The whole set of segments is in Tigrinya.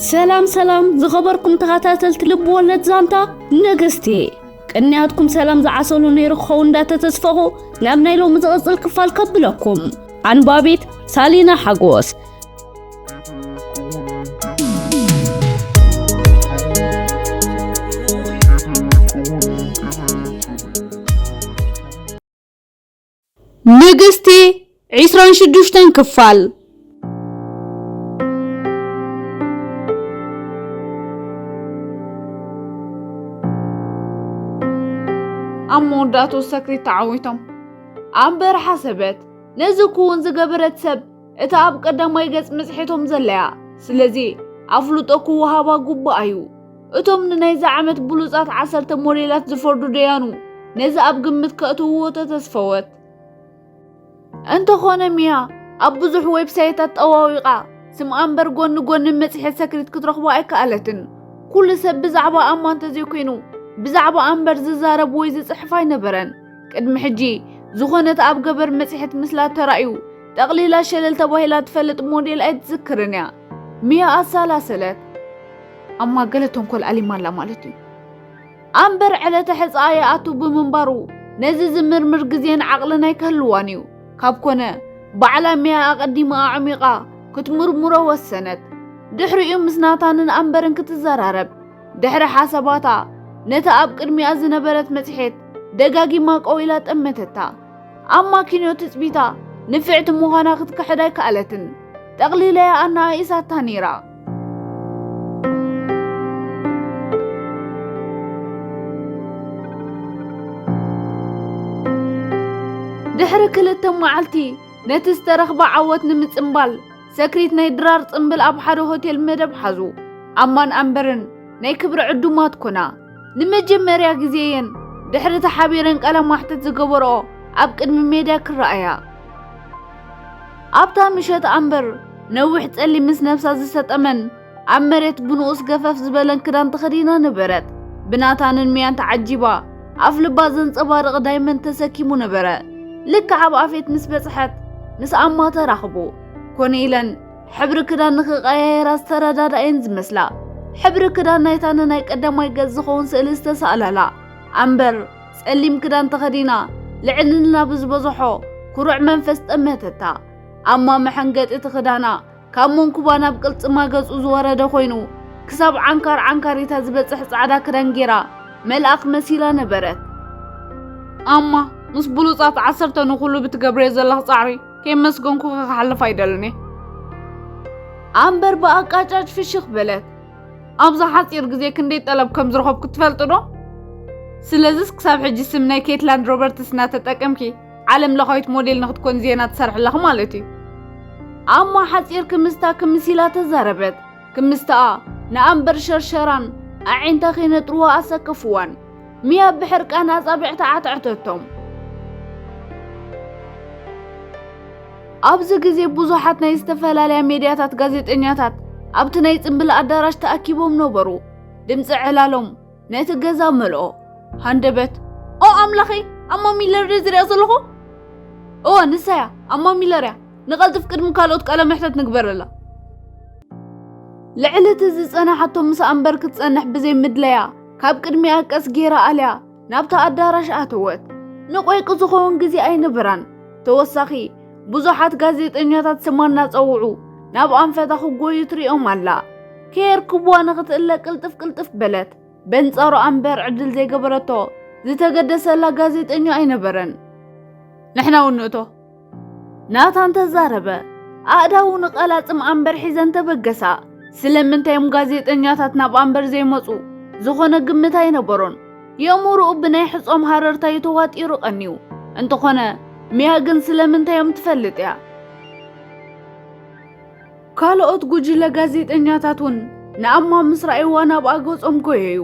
ሰላም ሰላም ዝኸበርኩም ተኸታተልቲ ልቢ ወለድ ዛንታ ነገስቲ ቅንያትኩም ሰላም ዝዓሰሉ ነይሩ ክኸውን እንዳተተስፈኹ ናብ ናይ ሎሚ ዝቕፅል ክፋል ከብለኩም ኣንባቢት ሳሊና ሓጎስ ንግስቲ ዕስራን ሽዱሽተን ክፋል። ኣብ መወዳእትኡ ሰክሪት ተዓዊቶም ኣብ በረሓ ሰበት ነዚ ክውን ዝገበረት ሰብ እታ ኣብ ቀዳማይ ገጽ መጽሔቶም ዘለያ ስለዚ ኣፍልጦ ክወሃባ ግቡእ ኣዩ። እቶም ንናይዚ ዓመት ብሉጻት ዓሰርተ ሞዴላት ዝፈርዱ ደያኑ ነዚ ኣብ ግምት ከእትውዎ ተተስፈወት። እንተኾነ ሚያ ኣብ ብዙሕ ዌብሳይታት ጠዋዊቓ ስምኣ እምበር ጎኒ ጎኒ መጽሔት ሰክሪት ክትረኽቦ ኣይከኣለትን። ኩሉ ሰብ ብዛዕባ ኣማ እንተዘይኮይኑ ብዛዕባ ኣምበር ዝዛረብ ወይ ዝጽሕፍ ኣይነበረን። ቅድሚ ሕጂ ዝኾነት ኣብ ገበር መጽሔት ምስላ ተራእዩ ጠቕሊላ ሸለል ተባሂላ ትፈልጥ ሞዴል ኣይትዝክርን እያ። ሚያ ኣሰላሰለት። ኣማ ገለ ተንኮል ኣሊማላ ማለት እዩ ኣምበር ዕለተ ሕፃ ይኣቱ ብምንባሩ ነዚ ዝምርምር ግዜን ዓቕልን ኣይከህልዋን እዩ ካብ ኮነ ባዕላ ሚያ ኣቐዲማ ኣዕሚቓ ክትምርምሮ ወሰነት ድሕሪኡ ምስ ናታንን ኣምበርን ክትዘራረብ ድሕሪ ሓሳባታ ነቲ ኣብ ቅድሚኣ ዝነበረት መጽሔት ደጋጊማ ቀዊላ ጠመተታ ኣማኪንዮ ትጽቢታ ንፍዕቲ ምዃና ክትክሕድ ኣይከኣለትን። ጠቕሊለያ ኣነኣኢሳታ ነይራ። ድሕሪ ክልተ መዓልቲ ነቲ ዝተረኽበ ዓወት ንምጽምባል ሰክሪት ናይ ድራር ጽምብል ኣብ ሓደ ሆቴል መደብ ሓዙ። ኣማን ኣምበርን ናይ ክብሪ ዕዱማት ኮና። ንመጀመርያ ግዜ እየን ድሕሪ ተሓቢረን ቃለ ማሕተት ዝገበርኦ ኣብ ቅድሚ ሜድያ ክረኣያ። ኣብታ ምሸት ኣምበር ነዊሕ ጸሊም ምስ ነብሳ ዝሰጠመን ኣብ መሬት ብንኡስ ገፈፍ ዝበለን ክዳን ተኸዲና ነበረት። ብናታንን ሚያን ተዓጂባ ኣፍ ልባ ዘንጸባርቕ ዳይመንድ ተሰኪሙ ነበረ። ልክዕ ኣብ ኣፌት ምስ በጽሐት ምስ ኣማ ተራኽቡ። ኮነ ኢለን ሕብሪ ክዳን ንኽቀያየራ ዝተረዳዳኤን ዝመስላ ሕብሪ ክዳን ናይታ ንናይ ቀዳማይ ገጽ ዝኸውን ስእሊ ዝተሳእላላ ኣምበር ጸሊም ክዳን ተኸዲና ልዕልና ብዝበዝሖ ኩሩዕ መንፈስ ጠመተታ። ኣማ መሐንገጢ እቲ ክዳና ካብ መንኩባ ናብ ቅልጽማ ገጹ ዝወረደ ኮይኑ ክሳብ ዓንካር ዓንካሪታ ዝበጽሕ ጻዕዳ ክዳን ጌራ መልኣኽ መሲላ ነበረት። ኣማ ምስ ብሉጻት ዓሰርተ ንኹሉ ብትገብርዮ ዘለኽ ጻዕሪ ከየመስገንኩኺ ክሓልፍ ኣይደልን ኣምበር ብኣቃጫጭ ፍሽኽ በለት። ኣብዛ ሓጺር ግዜ ክንደይ ጠለብ ከም ዝረኸብኩ ትፈልጡ ዶ? ስለዚስ ክሳብ ሕጂ ስም ናይ ኬትላንድ ሮበርትስ እናተጠቀምኪ ዓለም ለኻዊት ሞዴል ንክትኮን ዜና ትሰርሕ ኣለኺ ማለት እዩ። ኣሞ ሓጺር ክምስታ ክምስ ኢላ ተዛረበት። ክምስተኣ ንኣምበር ሸርሸራን ኣዒንታ ከይነጥርዎ ኣሰከፍዋን። ሚያ ብሕርቃን ኣጻብዕታ ዓትዐተቶም። ኣብዚ ግዜ ብዙሓት ናይ ዝተፈላለያ ሜድያታት ጋዜጠኛታት ኣብቲ ናይ ጽምብል ኣዳራሽ ተኣኪቦም ነበሩ። ድምጺ ዕላሎም ነቲ ገዛ መልኦ ሃንደበት ኦ ኣምላኸይ ኣማ ሚለር ዶ ዝሪኣ ዘለኹ እወ ንሳ እያ ኣማ ሚለር እያ ንቐልጥፍ ቅድሚ ካልኦት ቃለ መሕተት ንግበረላ ልዕሊ እቲ ዝጸናሓቶ ምስ ኣንበር ክትጸንሕ ብዘይ ምድለያ ካብ ቅድሚኣ ቀስ ጌራ ኣልያ ናብታ ኣዳራሽ ኣተወት ንቆይቂ ዝኸውን ግዜ ኣይነበራን ተወሳኺ ብዙሓት ጋዜጠኛታት ስማ እናጸውዑ ናብ ኣንፈታ ክጎዩ ትሪኦም ኣላ ከየርክብዋ ንኽትእለ ቅልጥፍ ቅልጥፍ በለት። በንጻሩ ኣንበር ዕድል ዘይገበረቶ ዝተገደሰላ ጋዜጠኛ ኣይነበረን። ንሕና እውን ንእቶ ናታን ተዛረበ። ኣእዳው ንቐላጽም ኣንበር ሒዘን ተበገሳ። ስለምንታይ እዮም ጋዜጠኛታት ናብ ኣንበር ዘይመጹ? ዝኾነ ግምት ኣይነበሮን። የእምሮኡ ብናይ ሕጾም ሃረርታ እዩ ተዋጢሩ ቀንዩ። እንተኾነ ሚያ ግን ስለምንታይ እዮም ትፈልጥ እያ። ካልኦት ጉጅለ ጋዜጠኛታት እውን ንኣማ ምስ ረኣይዋ ናብኣ ገጾም ጎየዩ።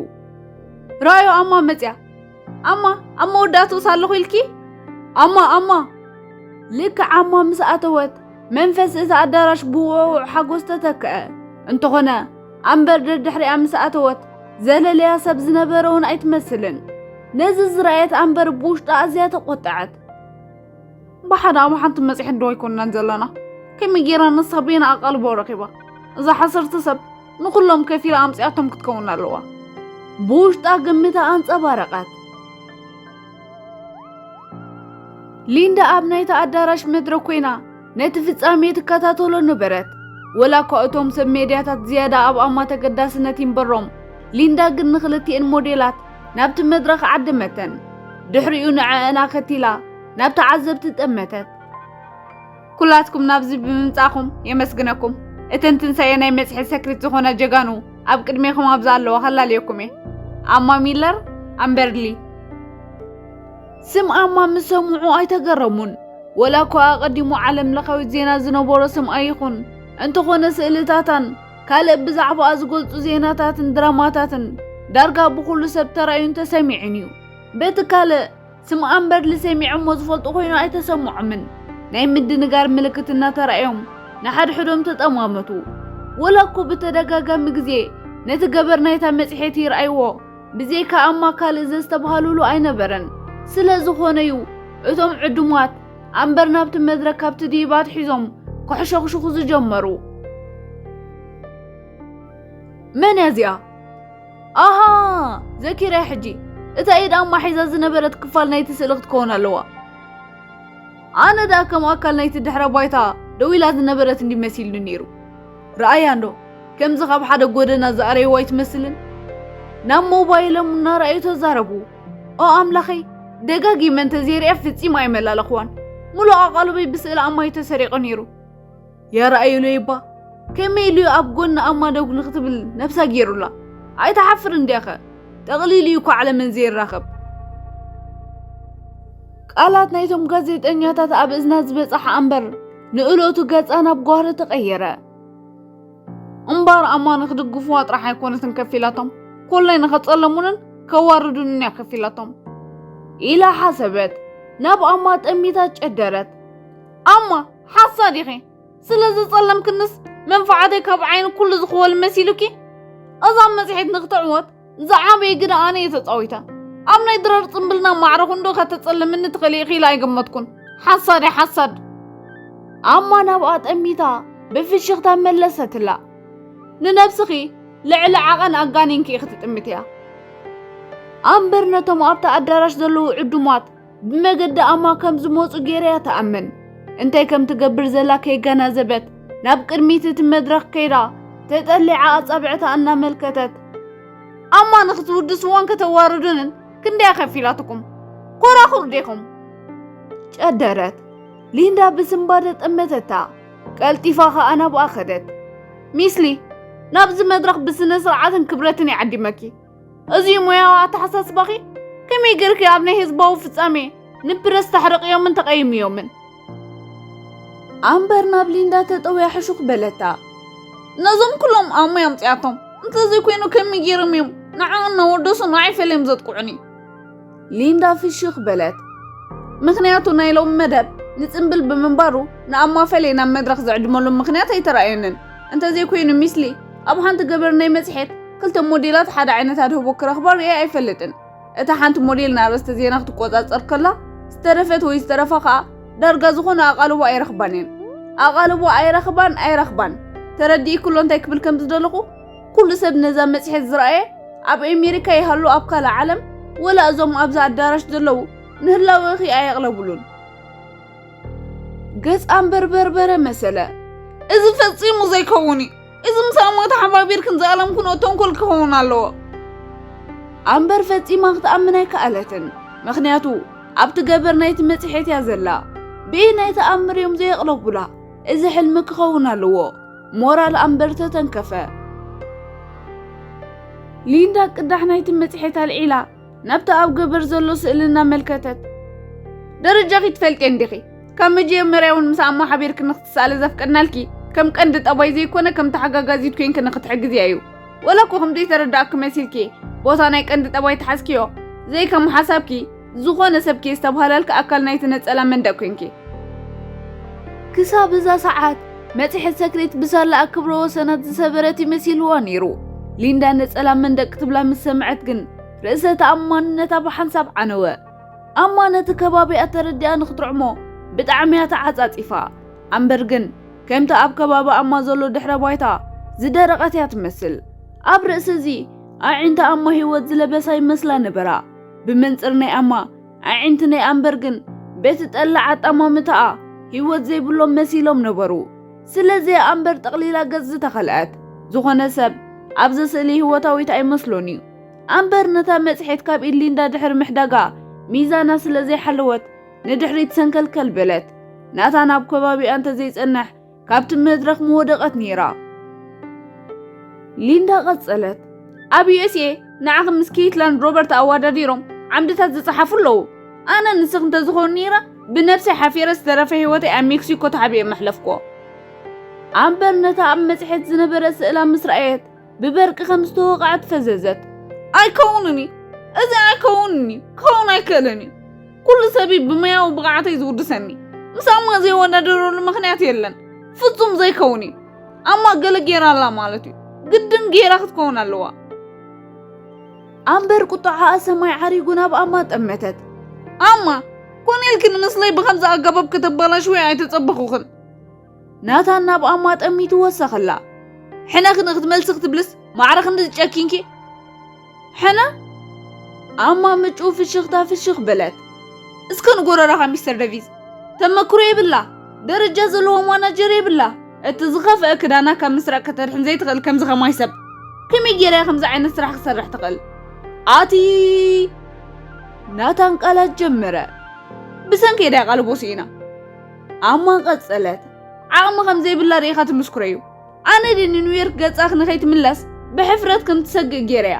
ረኣዮ ኣማ መጽያ ኣማ ኣብ መወዳእትኡስ ኣለኹ ኢልኪ ኣማ ኣማ ልክዕ ኣማ ምስ ኣተወት መንፈስ እቲ ኣዳራሽ ብውዕውዕ ሓጎስ ተተክአ። እንተኾነ ኣምበር ደድሕሪኣ ምስ ኣተወት ዘለለያ ሰብ ዝነበረ እውን ኣይትመስልን። ነዚ ዝረኣየት ኣምበር ብውሽጣ ኣዝያ ተቖጠዐት። ብሓደ ኣብ ሓንቲ መፅሔት ዶ ኣይኮናን ዘለና ከመይ ጌራ ንሳ ቤና ኣቓልቦ ረኺባ እዛ ሓሰርቲ ሰብ ንኹሎም ከፊላ ኣምፅኣቶም ክትከውን ኣለዋ ብውሽጣ ግምታ ኣንፀባረቐት ሊንዳ ኣብ ናይቲ ኣዳራሽ መድረክ ኮይና ነቲ ፍጻሜ ትከታተሎ ነበረት። ወላ እኳ እቶም ሰብ ሜድያታት ዝያዳ ኣብ ኣማ ተገዳስነት ይንበሮም፣ ሊንዳ ግን ንኽልቲኤን ሞዴላት ናብቲ መድረኽ ዓደመተን። ድሕሪኡ ንዐኣን ኣኸቲላ ናብ ተዓዘብቲ ጠመተት። ኩላትኩም ናብዚ ብምምጻእኩም የመስግነኩም። እተን ትንሳኤ ናይ መጽሔት ሰክሪት ዝኾና ጀጋኑ ኣብ ቅድሜኹም ኣብዛ ኣለዋ ከላልየኩም እየ። ኣማ ሚለር ኣምበርሊ ስም ኣማ ምስ ሰምዑ ኣይተገረሙን። ወላ እኳ ኣቐዲሙ ዓለም ለኻዊ ዜና ዝነበሮ ስም ኣይኹን፣ እንተኾነ ስእልታታን ካልእ ብዛዕባኣ ዝገልጹ ዜናታትን ድራማታትን ዳርጋ ብኹሉ ሰብ ተራእዩን ተሰሚዑን እዩ። በቲ ካልእ፣ ስም ኣምበርሊ ሰሚዖሞ ዝፈልጡ ኮይኑ ኣይተሰምዖምን። ናይ ምድንጋር ምልክት እናተራእዮም ንሓድሕዶም ተጠማመቱ። ወላ እኮ ብተደጋጋሚ ግዜ ነቲ ገበር ናይታ መጽሔት ይርኣይዎ፣ ብዘይካ ኣማ ካልእ ዘስተብሃሉሉ ኣይነበረን። ስለ ዝኾነ'ዩ እቶም ዕዱማት ኣምበር ናብቲ መድረክ ካብ ትድይባት ሒዞም ከሕሸኹሽኹ ዝጀመሩ። መን እያ እዚኣ? ኣሃ ዘኪረያ ሕጂ፣ እታ ኢድ ኣማ ሒዛ ዝነበረት ክፋል ናይቲ ስእሊ ክትከውን ኣለዋ። ኣነ ደኣ ከም ኣካል ናይቲ ድሕረ ባይታ ደው ኢላ ዝነበረት እንድዩ መሲሉኒ ነይሩ። ረኣያ እንዶ ከምዚ ካብ ሓደ ጎደና ዝኣረይዎ ኣይትመስልን ናብ ሞባይሎም እናረኣዩ ተዛረቡ ኦ ኣምላኸይ ደጋጊመ እንተዘይርያ ፍጺም ኣይመላለኽዋን ሙሉእ ኣቓልበይ ብስእሊ ኣማይ ተሰሪቑ ነይሩ የረኣዩሉ ይባ ከመይ ኢሉ ኣብ ጎኒ ኣማ ደው ንክትብል ነብሳ ገይሩላ ኣይትሓፍር እንዲያኸ ጠቕሊሉ እዩ እኳ ዓለመን ዘይራኸብ ቃላት ናይቶም ጋዜጠኛታት ኣብ እዝና ዝበጽሓ ኣንበር ንእለቱ ገጻ ናብ ጓህሪ ተቐየረ። እምበኣር ኣማ ንኽድግፍዋ ጥራሕ ኣይኮነትን ከፊላቶም፣ ኮላይ ንኸጸለሙንን ከዋርዱንን እያ ከፊላቶም ኢላ ሓሰበት። ናብ ኣማ ጠሚታ ጨደረት። ኣማ ሓሳድ ኢኺ፣ ስለ ዘጸለምክንስ መንፋዓተይ ካብ ዓይኒ ኩሉ ዝኽወል መሲሉኪ? እዛ መጽሔት ንኽትዕወት ዝዓበየ ግደ ኣነ እየ ተፃዊተ ኣብ ናይ ድራር ፅምብልና ማዕረ ክንዶ ከተፀልምኒ ትኽእሊ ኢኺ ኢለ ኣይገመትኩን ሓሳድ እየ ሓሳድ ኣማ ናብኣ ጠሚታ ብፍሽኽታ መለሰትላ ንነብስኺ ልዕሊ ዓቐን ኣጋኒንኪ ኢኺ ትጥምትያ ኣምበር ነቶም ኣብቲ ኣዳራሽ ዘለዉ ዕዱማት ብመገዲ ኣማ ከም ዝመጹ ገይረያ ተኣምን እንታይ ከም ትገብር ዘላ ከይገናዘበት ናብ ቅድሚት እቲ መድረኽ ከይዳ ተጠሊዓ ኣጻብዕታ እናመልከተት ኣማ ንክትውድስዎን ከተዋርዱንን ክንደይ ኣኸፊላትኩም ኮራኹር ዴኹም ጨደረት ሊንዳ ብስንባደ ጠመተታ ቀልጢፋ ኸኣ ናብኣ ኸደት ሚስሊ ናብዚ መድረኽ ብስነ ስርዓትን ክብረትን ይዓዲመኪ እዚ ሙያዊ ኣተሓሳስባኺ ከመይ ጌርኪ ኣብ ናይ ህዝባዊ ፍጻሜ ንፕረስ ተሕርቕዮምን ተቐይምዮምን? ኣምበር ናብ ሊንዳ ተጠውያ ሕሹኽ በለታ። ነዞም ኩሎም ኣብ ሙያ ኣምጺኣቶም እንተዘይኮይኑ ከመይ ጌሮም እዮም ንዓኡ እናወደሱ ንዓይ ፈልዮም ዘጥቅዑኒ? ሊንዳ ፍሽኽ በለት። ምኽንያቱ ናይ ሎሚ መደብ ንጽምብል ብምንባሩ ንኣማፈሌ ናብ መድረኽ ዝዕድመሉ ምኽንያት ኣይተራእየንን። እንተዘይኮይኑ ሚስሊ ኣብ ሓንቲ ገበር ናይ መጽሔት ክልተ ሞዴላት ሓደ ዓይነት ኣድህቦ ክረኽባ ርእየ ኣይፈልጥን። እታ ሓንቲ ሞዴል ንኣርእስተ ዜና ክትቆጻጸር ከላ ዝተረፈት ወይ ዝተረፋ ከኣ ዳርጋ ዝኾነ ኣቓልቦ ኣይረኽባን እየን። ኣቓልቦ ኣይረኽባን ኣይረኽባን ተረዲእክሎ እንታይ ክብል ከም ዝደለኹ? ኩሉ ሰብ ነዛ መጽሔት ዝረኣየ ኣብ ኣሜሪካ ይሃሉ ኣብ ካልእ ዓለም ወላ እዞም ኣብዚ ኣዳራሽ ዘለዉ ንህላወኺ ኣየቕለብሉን። ገጽ ኣንበር በርበረ መሰለ። እዚ ፈጺሙ ዘይከውን እዩ እዚ ምስ ኣሞት ሓባቢርክን ዝኣለምክንኦ ተንኮል ክኸውን ኣለዎ ኣንበር ፈጺማ ክትኣምን ኣይከኣለትን ምክንያቱ ኣብቲ ገበር ናይቲ መጽሔት እያ ዘላ ብእይ ናይ ተኣምር እዮም ዘየቕለቡላ እዚ ሕልሚ ክኸውን ኣለዎ ሞራል ኣምበር ተተንከፈ። ሊንዳ ቅዳሕ ናይቲ መጽሔት ኣልዒላ ናብቲ ኣብ ገበር ዘሎ ስእሊ እናመልከተት ደረጃኺ ትፈልጤ እንዲኺ ካብ መጀመርያ እውን ምስ ኣሞ ሓቢርኪ ንክትሰኣሊ ዘፍቀድናልኪ ከም ቀንዲ ጠባይ ዘይኮነ ከም ተሓጋጋዚት ኮንኪ ንክትሕግዝያ እዩ ወላ እኮ ከም ዘይተረዳእኪ መሲልኪ ቦታ ናይ ቀንዲ ጠባይ ተሓዝክዮ ዘይከም ሓሳብኪ ዝኾነ ሰብኪ ዝተብሃላልኪ ኣካል ናይቲ ነጸላ መንደቅ ኮንኪ። ክሳብ እዛ ሰዓት መጽሔት ሰክሬት ብሳላኣ ክብረ ወሰናት ዝሰበረት እዩ መሲልዋ ነይሩ። ሊንዳ ነጸላ መንደቅ ክትብላ ምስ ሰምዐት ግን ርእሰ ተኣማንነታ ብሓንሳብ ዓነወ። ኣማ ነቲ ከባቢኣ ተረዲኣ ንክትርዕሞ ብጣዕሚ እያ ተዓጻጺፋ። ኣምበር ግን ከምቲ ኣብ ከባቢ ኣማ ዘሎ ድሕረ ባይታ ዝደረቐት እያ ትመስል። ኣብ ርእሲ እዚ ኣዒንቲ ኣማ ህይወት ዝለበሳ ይመስላ ነበራ። ብመንጽር ናይ ኣማ ኣዒንቲ ናይ ኣምበር ግን ቤት ዝጠላዕ ኣጣማምታኣ ህይወት ዘይብሎም መሲሎም ነበሩ። ስለዚ ኣምበር ጠቕሊላ ገጽ ዝተኸልዐት ዝኾነ ሰብ ኣብዘ ስእሊ ህይወታዊት ኣይመስሎን እዩ። ኣምበር ነታ መጽሔት ካብ ኢድ ሊንዳ ድሕሪ ምሕዳጋ ሚዛና ስለ ዘይሓለወት ንድሕሪት ሰንከልከል በለት። ናታን ኣብ ከባቢኣ እንተዘይጸንሕ ካብቲ መድረኽ ምወደቐት ነይራ። ሊንዳ ቀጸለት፣ ኣብ ዩኤስኤ ንዓኺ ምስ ኬትላን ሮበርት ኣወዳዲሮም ዓምድታት ዝጸሓፉ ኣለዉ። ኣነ ንስኽ እንተዝኸውን ነይረ ብነብሰይ ሓፊረ ዝተረፈ ህይወተይ ኣብ ሜክሲኮ ተሓቢኤ መሕለፍኩዎ። ኣምበር ነታ ኣብ መጽሔት ዝነበረ ስእላ ምስ ረኣየት ብበርቂ ከም ዝተወቕዐት ፈዘዘት። ኣይከውንን እዩ እዚ ኣይከውንን እዩ ክኸውን ኣይክእልን እዩ ኩሉ ሰብ ብመያዊ ብቕዓተይ ዝውድሰኒ ምስ ኣማ ዘይወዳደረሉ ምክንያት የለን ፍጹም ዘይከውን እዩ ኣማ ገለ ጌራ ኣላ ማለት እዩ ግድን ጌራ ክትከውን ኣለዋ ኣምበር ቁጥዓኣ ሰማይ ዓሪጉ ናብ ኣማ ጠመተት ኣማ ኮን ኢልክን ምስለይ ብከምዚ ኣገባብ ከተበላሽወይ ኣይተጸበኹኽን ናታን ናብ ኣማ ጠሚቱ ወሰኸላ ሕነ ክን ክትመልሲ ክትብልስ ማዕረ ክንዲ ዝጨኪንኪ ሕነ ኣማ ምጩ ፍሽኽታ ፍሽኽ በለት እስከ ንጎረራኻ ሚስተር ደቪዝ ተመክሮ የብላ ደረጃ ዘለዎ ማናጀር የብላ እቲ ዝኸፍአ ክዳና ካብ ምስራቅ ከተድሕን ዘይትኽእል ከምዚ ከማይ ሰብ ከመይ ጌራ ከምዚ ዓይነት ስራሕ ክሰርሕ ትኽእል ኣቲ ናታን ቃላት ጀመረ ብሰንከይ ዳያ ቃልቦ ስኢና ኣማ ቀጸለት ዓቕሚ ከም ዘይብላ ርኢኻ ትምስክረዩ ኣነ ዲ ንኒውዮርክ ገጻኺ ንኸይትምለስ ብሕፍረት ከም ትሰግእ ጌረያ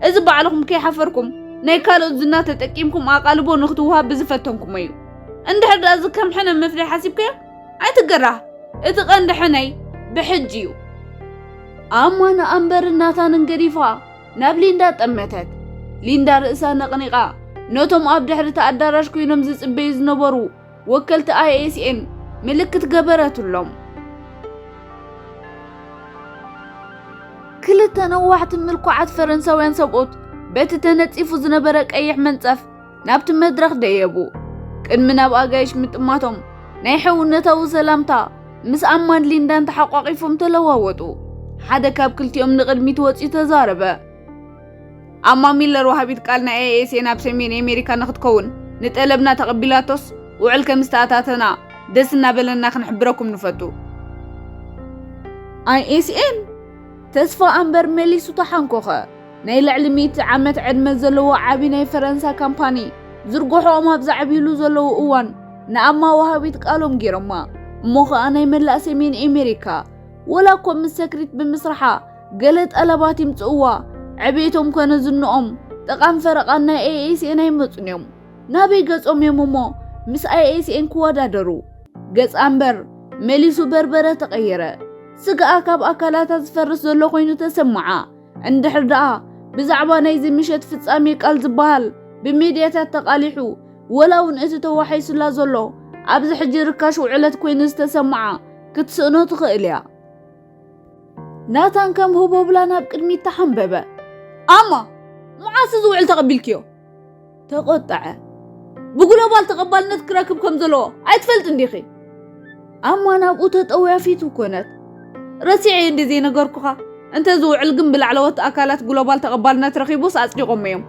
እዚ ባዕልኹም ከይሓፈርኩም ናይ ካልኦት ዝና ተጠቂምኩም ኣቓልቦ ንኽትውሃብ ብዝፈተንኩሞ እዩ እንድሕር ደኣ እዚ ከም ሕነ ምፍዳይ ሓሲብካዮ ኣይትገራህ እቲ ቀንዲ ሕነይ ብሕጂ እዩ ኣማ ንኣምበርን ናታንን ገዲፋ ናብ ሊንዳ ጠመተት ሊንዳ ርእሳ ነቕኒቓ ነቶም ኣብ ድሕሪ እቲ ኣዳራሽ ኮይኖም ዝጽበዩ ዝነበሩ ወከልቲ ISM ምልክት ገበረትሎም። ክልተ ነዋሕቲ ምልኩዓት ፈረንሳውያን ሰብኡት በቲ ተነጺፉ ዝነበረ ቀይሕ መንጸፍ ናብቲ መድረኽ ደየቡ። ቅድሚ ናብ ኣጋይሽ ምጥማቶም ናይ ሕውነታዊ ሰላምታ ምስ ኣማን ሊንዳን ተሓቋቒፎም ተለዋወጡ። ሓደ ካብ ክልቲኦም ንቕድሚት ወጺኡ ተዛረበ። ኣማ ሚለር ወሃቢት ቃል ናይ ኤኤስኤ ናብ ሰሜን ኣሜሪካ ንክትከውን ንጠለብና ተቐቢላቶስ ውዕል ከም ዝተኣታተና ደስ እናበለና ክንሕብረኩም ንፈቱ። ኣይኤስኤን ተስፋ ኣምበር መሊሱ ተሓንኮኸ። ናይ ልዕሊ ሚእቲ ዓመት ዕድመ ዘለዎ ዓቢ ናይ ፈረንሳ ካምፓኒ ዝርግሖኦም ኣብ ዘዕብዩሉ ዘለዉ እዋን ንኣማ ወሃቢት ቃሎም ገይሮማ እሞ ኸኣ ናይ መላእ ሰሜን ኣሜሪካ ወላ እኮ ምስ ሰክሪት ብምስርሓ ገለ ጠለባት ይምጽእዋ ዕብየቶም ኮነ ዝንኦም ጥቓን ፈረቓን ናይ ኣይኤስኤን ኣይመጹን እዮም። ናበይ ገጾም እዮም እሞ ምስ ኣይኤስኤን ክወዳደሩ? ገጽ ኣምበር መሊሱ በርበረ ተቐየረ። ስጋኣ ካብ ኣካላታ ዝፈርስ ዘሎ ኮይኑ ተሰማዓ። እንድሕር ደኣ ብዛዕባ ናይዚ ምሸት ፍጻሜ ቃል ዝበሃል ብሚድያታት ተቓሊሑ ወላ እውን እቲ ተዋሒሱላ ዘሎ ኣብዚ ሕጂ ርካሽ ውዕለት ኮይኑ ዝተሰማዓ ክትስእኖ ትኽእል እያ። ናታን ከም ህቦብላ ናብ ቅድሚት ተሓንበበ። ኣማ መዓስ እዚ ውዕል ተቐቢልክዮ? ተቖጠዐ። ብግሎባል ተቐባልነት ክረክብ ከም ዘለዎ ኣይትፈልጥ እንዲኺ? ኣማ ናብኡ ተጠውያ ፊቱ ኮነት። ረሲዐ እየ እንዲ ዘይነገርኩኻ እንተ እዚ ውዕል ግን ብላዕለዎት ኣካላት ግሎባል ተቐባልነት ረኺቡስ ኣጽዲቖሞ እዮም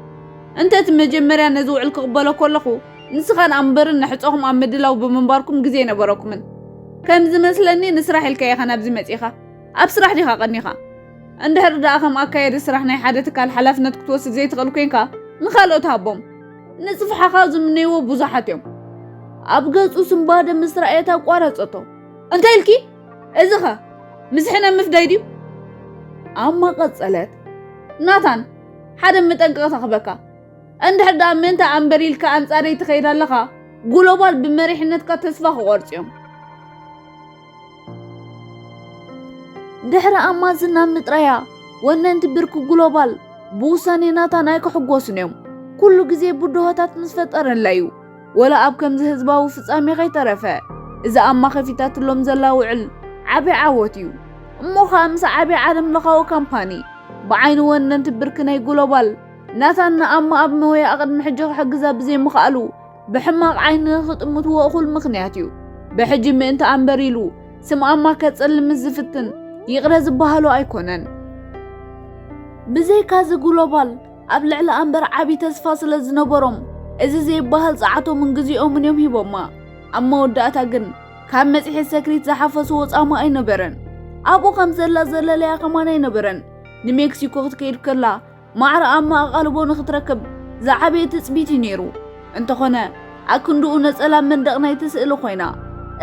እንተ እቲ መጀመርያ ነዚ ውዕል ክቕበሎ ከለኹ ንስኻን ኣምበርን ንሕጾኹም ኣብ ምድላው ብምንባርኩም ግዜ ኣይነበረኩምን። ከም ዝመስለኒ ንስራሕ ኢልካ ኢኻ ናብዚ መጺኻ። ኣብ ስራሕ ዲኻ ቀኒኻ? እንድሕር ደኣ ከም ኣካያዲ ስራሕ ናይ ሓደ ትካል ሓላፍነት ክትወስድ ዘይትኽእል ኮይንካ ንኻልኦት ሃቦም። ንጽፍሓኻ ዝምነይዎ ብዙሓት እዮም። ኣብ ገጹ ስንባደ ምስ ረኣየት ኣቋረጸቶ። እንታይ ኢልኪ? እዚኸ ምስ ሕነ ምፍዳይ ድዩ? ኣማ ቀጸለት። ናታን፣ ሓደ መጠንቀቕታ ክህበካ። እንድሕር ደኣ ምእንቲ ኣንበር ኢልካ ኣንጻረይ ትኸይድ ኣለኻ ግሎባል ብመሪሕነትካ ተስፋ ክቖርጹ እዮም ድሕሪ ኣማዝን ናብ ምጥራያ ወነንቲ ብርኪ ግሎባል ብውሳኔ ናታን ኣይክሕጎሱን እዮም ኩሉ ግዜ ብድሆታት ምስ ፈጠረላ እዩ ወላ ኣብ ከምዚ ህዝባዊ ፍጻሜ ከይተረፈ እዚ ኣማኸፊታትሎም ዘላ ውዕል ዓቢ ዓወት እዩ እሞ ኸኣ ምስ ዓቢ ዓለም ለኻዊ ካምፓኒ ብዓይኒ ወነንቲ ብርኪ ናይ ግሎባል ናታን ንኣማ ኣብ ሞያኣ ቅድሚ ሕጂ ክሕግዛ ብዘይምኽኣሉ ብሕማቕ ዓይኒ ንኽጥምትዎ እኹል ምኽንያት እዩ። ብሕጂ ምእንቲ ኣምበር ኢሉ ስም ኣማ ከጸልምስ ዝፍትን ይቕረ ዝበሃሎ ኣይኮነን። ብዘይካዚ ግሎባል ኣብ ልዕሊ ኣምበር ዓቢ ተስፋ ስለ ዝነበሮም እዚ ዘይበሃል ጸዓቶምን ግዜኦምን እዮም ሂቦማ። ኣብ መወዳእታ ግን ካብ መጽሔት ሰክሪት ዝሓፈስዎ ጻማ ኣይነበረን። ኣብኡ ከም ዘላ ዘለለያ ከማን ኣይነበረን። ንሜክሲኮ ክትከይድ ከላ ማዕረ ኣብ መኣቓልቦ ንኽትረክብ ዝዓበየ ትጽቢት እዩ ነይሩ። እንተኾነ ኣክንድኡ ነጸላ ኣብ መንደቕ ናይቲ ስእሊ ኮይና።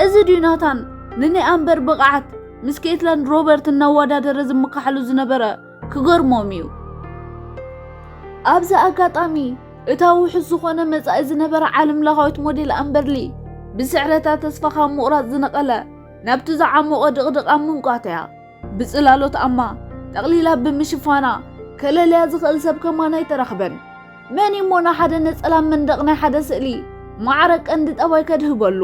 እዚ ድዩ ናታን ንናይ ኣምበር ብቕዓት ምስ ኬትላንድ ሮበርት እናወዳደረ ዝምካሓሉ ዝነበረ? ክገርሞም እዩ። ኣብዚ ኣጋጣሚ እታ ውሑስ ዝኾነ መጻኢ ዝነበራ ዓለምለኻዊት ሞዴል ኣምበርሊ ብስዕረታ ተስፋ ካብ ምቑራጽ ዝነቐለ ናብቲ ዝዓሞቐ ድቕድቕ ኣብ ምምቋት እያ። ብጽላሎት ኣማ ጠቕሊላ ብምሽፋና ከለልያ ዝኽእል ሰብ ከማን ኣይተረኽበን። መን እዩ እሞ ንሓደ ነጸላ መንደቕ ናይ ሓደ ስእሊ ማዕረ ቀንዲ ጠባይ ከድህበሉ?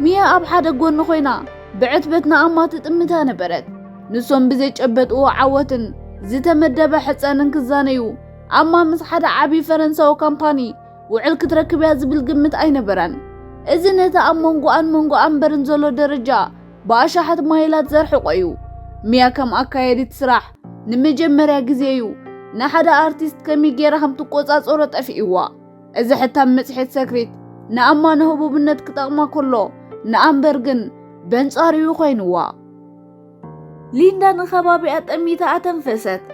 ሚያ ኣብ ሓደ ጎኒ ኮይና ብዕትበት ንኣማ ትጥምታ ነበረት። ንሶም ብዘጨበጥዎ ዓወትን ዝተመደበ ሕጸንን ክዛነዩ ኣማ ምስ ሓደ ዓቢ ፈረንሳዊ ካምፓኒ ውዕል ክትረክብ እያ ዝብል ግምት ኣይነበራን። እዚ ነቲ ኣብ መንጎኣን መንጎ ኣምበርን ዘሎ ደረጃ ብኣሻሓት ማይላት ዘርሕቆ እዩ። ሚያ ከም ኣካየዲት ስራሕ ንመጀመርያ ግዜ እዩ ንሓደ ኣርቲስት ከመይ ጌራ ከም ትቆጻጸሮ ጠፊእዋ። እዚ ሕታም መጽሔት ሰክሪት ንኣማ ንህቡብነት ክጠቕማ ከሎ ንኣምበር ግን በንጻሩ እዩ ኮይንዋ። ሊንዳ ንከባቢኣ ጠሚታ ኣተንፈሰት።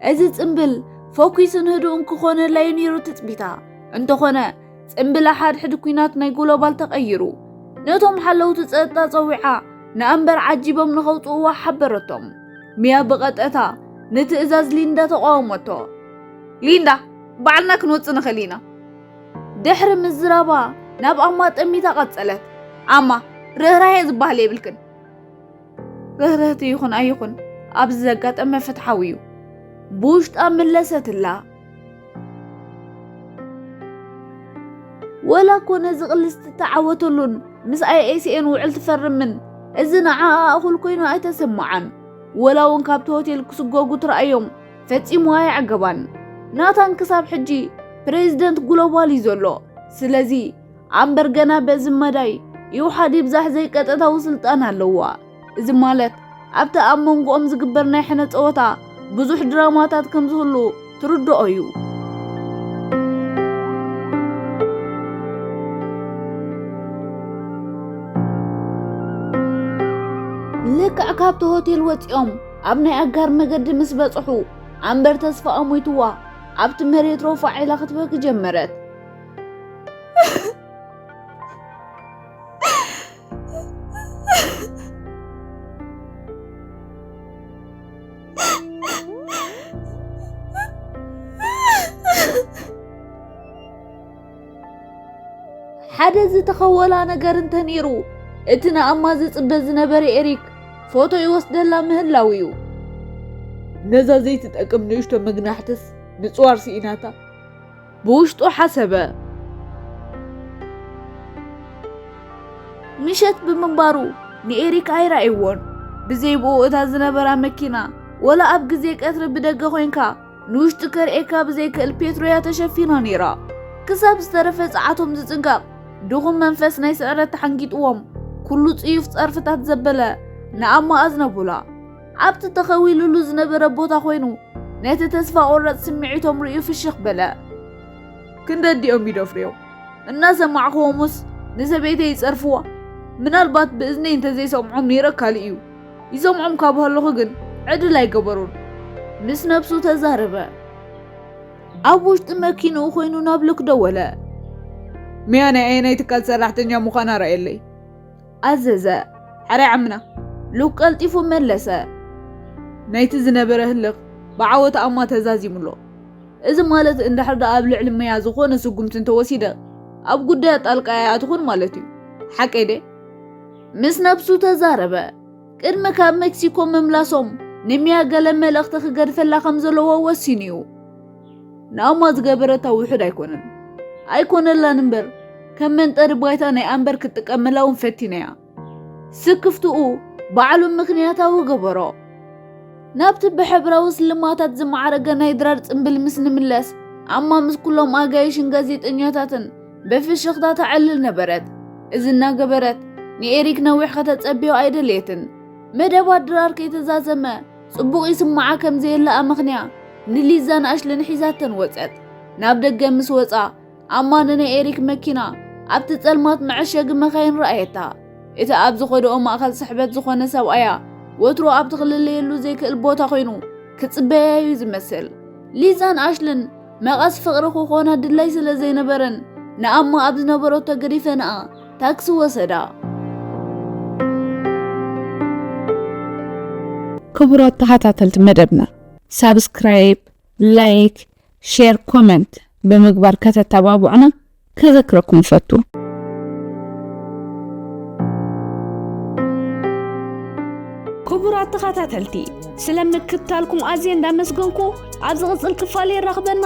እዚ ጽምብል ፎኪስን ህዱእን ክኾነላዩ ነይሩ ትጽቢታ እንተኾነ ጽምብል ሓድሕድ ኩናት ናይ ግሎባል ተቐይሩ ነቶም ሓለውቲ ጸጥታ ጸዊዓ ንኣንበር ዓጂቦም ንኸውጽእዋ ሓበረቶም ሚያ ብቐጠታ ንትእዛዝ ሊንዳ ተቋወመቶ ሊንዳ ባዕልና ክንወጽእ ንኽእል ኢና ድሕሪ ምዝራባ ናብ ኣማ ጠሚታ ቀጸለት። ኣማ ርህራሄ ዝበሃል የብልክን። ርህርህቲ ይኹን ኣይኹን ኣብዚ ዘጋጠመ ፍትሓዊ እዩ ብውሽጣ ምለሰትላ ወላ እኮ ነዚ ቅልስ ትተዓወተሉን ምስ ኣይኤስኤን ውዕል ትፈርምን እዚ ንዓኣ እኹል ኮይኑ ኣይተሰምዓን ወላ እውን ካብቲ ሆቴል ክስጎጉ ትረኣዮም ፈጺሙ ኣየዕገባን ናታን ክሳብ ሕጂ ፕሬዚደንት ግሎባል እዩ ዘሎ ስለዚ ኣምበር ገና በዚ መዳይ ይውሓድ ይብዛሕ ዘይቀጥታዊ ስልጣን ኣለዋ። እዚ ማለት ኣብቲ ኣብ መንጎኦም ዝግበር ናይ ሕነ ጸወታ ብዙሕ ድራማታት ከም ዝህሉ ትርድኦ እዩ። ልክዕ ካብቲ ሆቴል ወፂኦም ኣብ ናይ ኣጋር መገዲ ምስ በፅሑ ኣምበር ተስፋ ኣሞይትዋ ኣብቲ መሬት ሮፋ ዒላ ክትበኪ ጀመረት። ሓደ ዝተኸወላ ነገር እንተነይሩ እቲ ንኣማ ዝጽበ ዝነበረ ኤሪክ ፎቶ ይወስደላ ምህላው እዩ ነዛ ዘይትጠቅም ንእሽቶ መግናሕትስ ምፅዋር ስኢናታ ብውሽጡ ሓሰበ። ምሸት ብምንባሩ ንኤሪክ ኣይረኣይዎን። ብዘይ ብኡ እታ ዝነበራ መኪና ወላ ኣብ ግዜ ቀትሪ ብደገ ኮይንካ ንውሽጢ ከርእየካ ብዘይክእል ፔትሮያ ተሸፊና ነይራ። ክሳብ ዝተረፈ ጸዓቶም ዝጽንቀቕ ድኹም መንፈስ ናይ ስዕረት ተሓንጊጥዎም ኩሉ ጽዩፍ ጸርፍታት ዘበለ ንኣማ ኣዝነቡላ። ኣብቲ ተኸዊሉሉ ዝነበረ ቦታ ኮይኑ ነቲ ተስፋ ቆረፅ ስምዒቶም ርእዩ ፍሽኽ በለ። ክንደዲኦም ይደፍርዮም እናሰማዕክዎምስ ንሰበይተይ ይጸርፍዋ ምናልባት ብእዝነይ እንተዘይሰምዖም ነይረ ካልእ እዩ ይሰምዖም ካብ ሃለኹ ግን ዕድል ኣይገበሩን ምስ ነብሱ ተዛረበ ኣብ ውሽጢ መኪንኡ ኮይኑ ናብ ሎክ ደወለ ሚያ ናይ ኣየናይ ትካል ሰራሕተኛ ምዃና ረኣየለይ ኣዘዘ ሐራይ ዓምና ሉክ ቀልጢፉ መለሰ። ናይቲ ዝነበረ ህልኽ ብዓወት ኣማ ተዛዚሙሎ። እዚ ማለት እንድሕር ደኣ ኣብ ልዕሊ መያ ዝኾነ ስጉምቲ እንተወሲደ ኣብ ጉዳያ ጣልቃ ኣይኣትኹን ማለት እዩ። ሓቀይ ድየ? ምስ ነብሱ ተዛረበ። ቅድሚ ካብ መክሲኮ ምምላሶም ንመያ ገለ መልእኽቲ ክገድፈላ ከም ዘለዎ ወሲኑ እዩ። ንኣማ ዝገበረታ ውሑድ ኣይኮነን ኣይኮነላን እምበር ከም መንጠሪ ባይታ ናይ ኣንበር ክትጥቀመላ እውን ፈቲና እያ ስክፍትኡ ባዕሉ ምክንያታዊ ገበሮ ናብቲ ብሕብራዊ ስልማታት ዝማዕረገ ናይ ድራር ጽምብል ምስ ንምለስ ኣማ ምስ ኩሎም ኣጋይሽን ጋዜጠኛታትን ብፍሽኽታ ተዕልል ነበረት እዚ እናገበረት ንኤሪክ ነዊሕ ከተጸብዮ ኣይደልየትን መደባት ድራር ከይተዛዘመ ጽቡቕ ይስምዓ ከም ዘየለ ኣመኽንያ ንሊዛን ኣሽልን ሒዛተን ወጸት። ናብ ደገ ምስ ወጻ ኣማን ናይ ኤሪክ መኪና ኣብቲ ጸልማት መዐሸጊ መካይን ረኣየታ። እቲ ኣብ ዝኸደኦ ማእከል ስሕበት ዝኾነ ሰብኣያ ወትሮ ኣብቲ ክልለየሉ ዘይክእል ቦታ ኮይኑ ክጽበያ እዩ ዝመስል። ሊዛን ኣሽልን መቐስ ፍቕሪ ክኾና ድላይ ስለ ዘይነበረን ንኣማ ኣብ ዝነበረቶ ገዲፈንኣ ታክሲ ወሰዳ። ክቡራት ተኸታተልቲ መደብና ሳብስክራይብ፣ ላይክ፣ ሼር፣ ኮመንት ብምግባር ከተተባብዑና ከዘክረኩም እፈቱ። ክቡራት ተኸታተልቲ ስለ ምክትታልኩም ኣዝየ እንዳመስገንኩ ኣብ ዝቕጽል ክፋል የራኽበና።